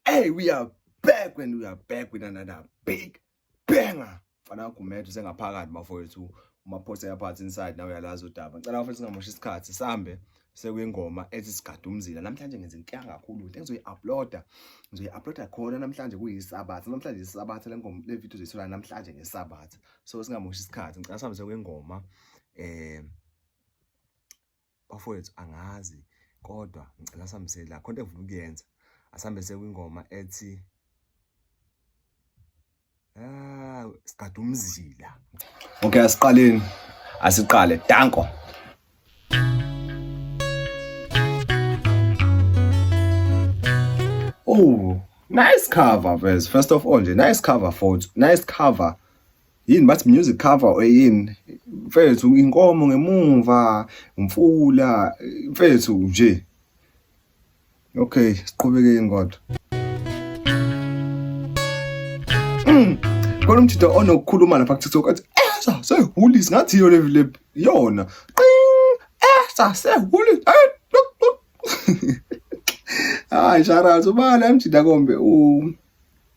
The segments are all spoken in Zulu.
Hey, we are back when we are back with another big banger. Fana uGumede usengaphakathi bafowethu. Umaphosa yaphathi inside nawe uyalazi udaba. Ngicela bafowethu singamoshi isikhathi sambe sekuyingoma ethi sigade umzila namhlanje ngenza inkinga kakhulu into engizoyi-uploada ngizoyi-uploada khona namhlanje kuyisabatha namhlanje isabatha le ngoma le video zoyithola namhlanje ngesabatha so singamoshi isikhathi ngicela sihambe sekuyingoma um eh, bafowethu angazi kodwa ngicela sihambisele la khonto engifuna ukuyenza asihambise kwingoma ethi ah siqada umzila okay asiqaleni asiqale danko Oh, nice cover, Vez. First of all, nice cover, folks. Nice cover. yini bathi music cover or yini mfethu inkomo ngemumva umfula mfethu nje okay siqhubekeni kodwa mm. kodwa umthitho onokukhuluma lapha kuthi ukuthi esa sehuli singathi yo le yona qing esa sehuli eh, hayi sharazo bala mjida kombe u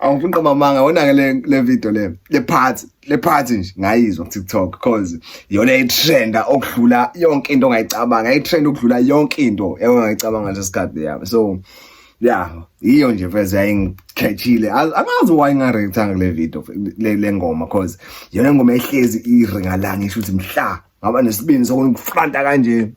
angifuni qoma amanga wona-ke le, le video le le part le part nje ngayizwa kutiktok cause yona itrenda okudlula yonke into ongayicabanga itrend okudlula yonke into engayicabanga nje sikhathi yami so ya yiyo nje veze yayingikhethile angazi why ngingarektanga kule video le ngoma cause yona ingoma ehlezi iringalanga isho ukuthi mhla ngaba nesibindi sokunifranta kanje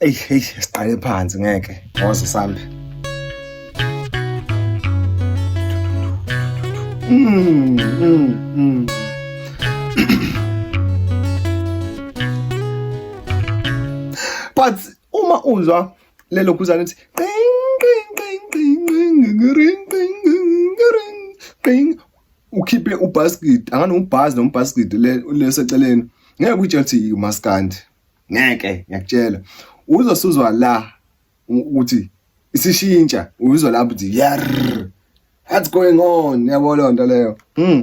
eyi eyi siqale phansi ngeke ngoze sambe mm, mm, mm. but uma uzwa lelo guzane ukuthi ukhiphe ubasket angane ubhazi noma ubasket leseceleni ngeke uyitshela ukuthi umaskandi ngeke ngiyakutshela uzosuzwa la ukuthi isishintsha uzwa lapho ukuthi yar what's going on yabo leyo nto leyo mm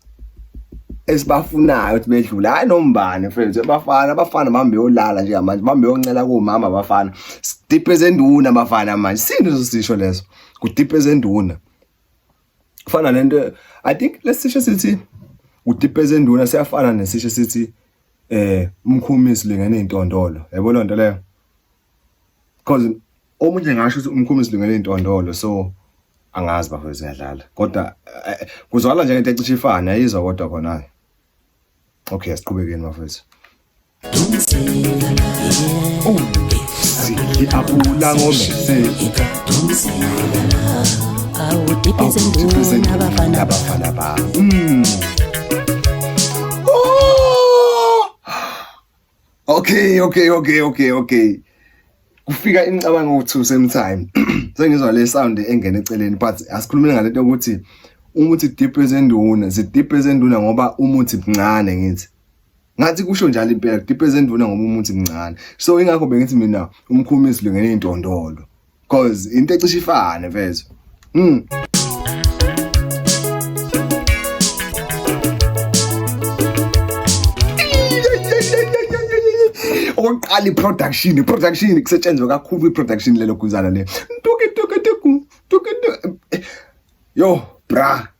esibafunayo ukuthi bedlule hayi nombani mfethu abafana abafana mhambe yolala nje manje mhambe yoncela komama abafana sidipe zenduna abafana manje sini uzosisho leso kudipe zenduna kufana nento i think lesisho sithi udipe zenduna siyafana nesisho sithi eh umkhumisi lengane intondolo yabo lonto leyo because omunye ngasho ukuthi umkhumi silungele intondolo so angazi bafethu siyadlala kodwa eh, kuzwala nje into ecishe ifane ayizwa kodwa khona okay asiqhubekeni bafethu siyiabula ngomese awudiphize nduna abafana bafana ba mm. Okay, okay, okay, okay, okay. Kufika imicabango ukuthi same time. Sengizwa le sound engene eceleni but asikhulumile ngalento ukuthi umuthi deep ezenduna, si deep ezenduna ngoba umuthi mncane ngithi. Ngathi kusho njalo impela deep ezenduna ngoba umuthi mncane. So ingakho bengithi mina umkhumisi lengene intondolo. cause into ecishe ifane mfethu mm. okokuqala i-production i-production kusetshenzwe kakhulu i-production lelo guzana le yo bra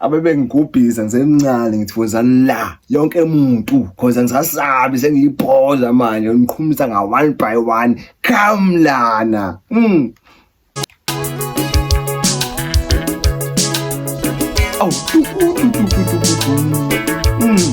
abebengigubhiza ngisemncane ngithi woza la yonke muntu cause angisasabi sengiyibhoza manje ngiqhumisa nga one by one come lana mm. oh, mm.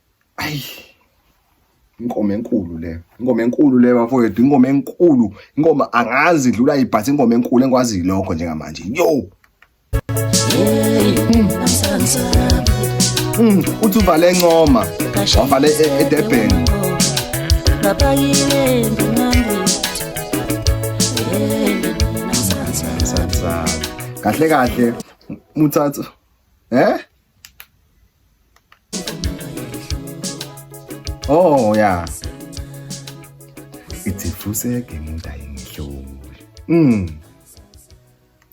ayi ingoma enkulu le ingoma enkulu le bafowethu ingoma enkulu ingoma angazi idlula ibhathi ingoma enkulu engikwaziyo lokho njengamanje yo Mm, uthi uvale encoma wavale e- edurban kahle kahle muthatha eh Oh yeah. Ithi fuseke umuntu ayingihluli. Mm.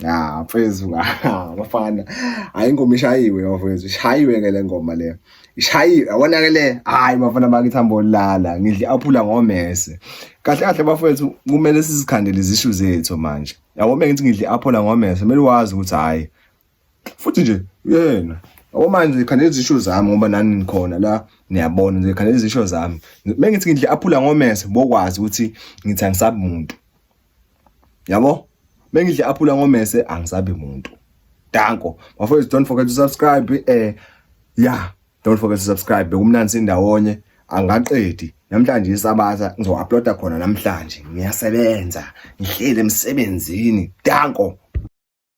Ah, mfethu abafana. Hayi ingoma ishayiwe mfethu. Ishayiwe ke le ngoma le. Ishayiwe. Yabona ke le. Hayi bafana bakithi hambo lala. Ngidle aphula ngomese. Kahle kahle bafethu kumele sizikhandele izishu zethu manje. Yabo mengithi ngidle aphula ngomese. Kumele wazi ukuthi hayi futhi nje yena okumanje ngikhandela izisho zami ngoba nani nikhona la niyabona nje ngikhandela izisho zami mengithi ngidle aphula ngomese bokwazi ukuthi ngithi angisabi muntu yabo mengidle aphula ngomese angisabi muntu danko bafowethu don't forget to subscribe eh yeah don't forget to subscribe bekumnandi sindawonye angaqedi namhlanje isabatha ngizo-uploada khona namhlanje ngiyasebenza ngihleli emsebenzini danko